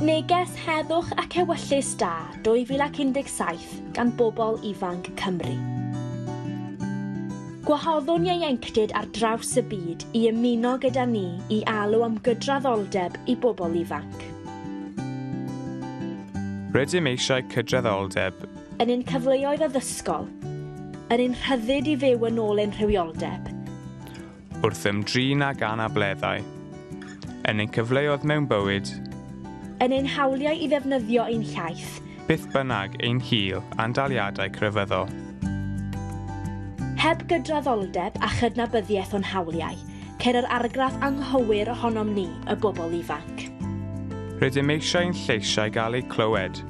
Neges Heddwch ac Ewyllys Da 2017 gan Bobl Ifanc Cymru. Gwahoddwn ieuenctid ar draws y byd i ymuno gyda ni i alw am gydraddoldeb i bobl ifanc. Rydym eisiau cydraddoldeb. Yn ein cyfleoedd addysgol. Yn ein rhyddid i fyw yn ôl ein rhywioldeb. Wrth ymdrin ag anableddau. Yn ein cyfleoedd mewn bywyd. Yn ein hawliau i ddefnyddio ein hiaith. Beth bynnag ein hil a'n daliadau crefyddol. Heb gydraddoldeb a chydnabyddiaeth o'n hawliau, ceir yr argraff anghywir ohonom ni, y bobl ifanc. Rydym eisiau ein lleisiau gael eu clywed.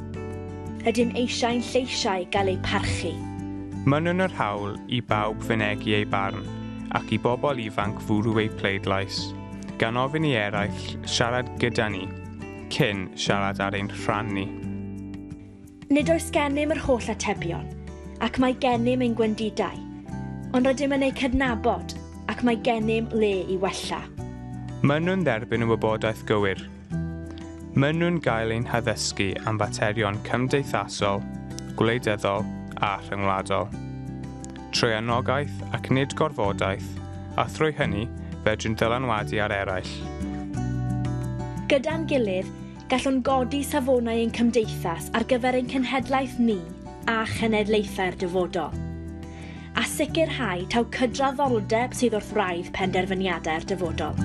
Rydym eisiau ein lleisiau gael eu parchu. Mynwn yr hawl i bawb fynegi eu barn. ac i bobl ifanc fwrw eu pleidlais, gan ofyn i eraill siarad gyda ni, cyn siarad ar ein rhan ni. Nid oes gennym yr holl atebion, ac mae gennym ein gwendidau, ond rydym yn eu cydnabod ac mae gennym le i wella. Maen nhw'n dderbyn y wybodaeth gywir, Maen nhw'n cael ein haddysgu am faterion cymdeithasol, gwleidyddol a rhyngwladol. Trwy anogaeth ac nid gorfodaeth, a thrwy hynny, fedrwn ddylanwadu ar eraill. Gyda'n gilydd, gallwn godi safonau ein cymdeithas ar gyfer ein cenhedlaeth ni a chenedlaethau'r dyfodol. a sicrhau taw cydraddoldeb sydd wrth wraidd penderfyniadau'r dyfodol.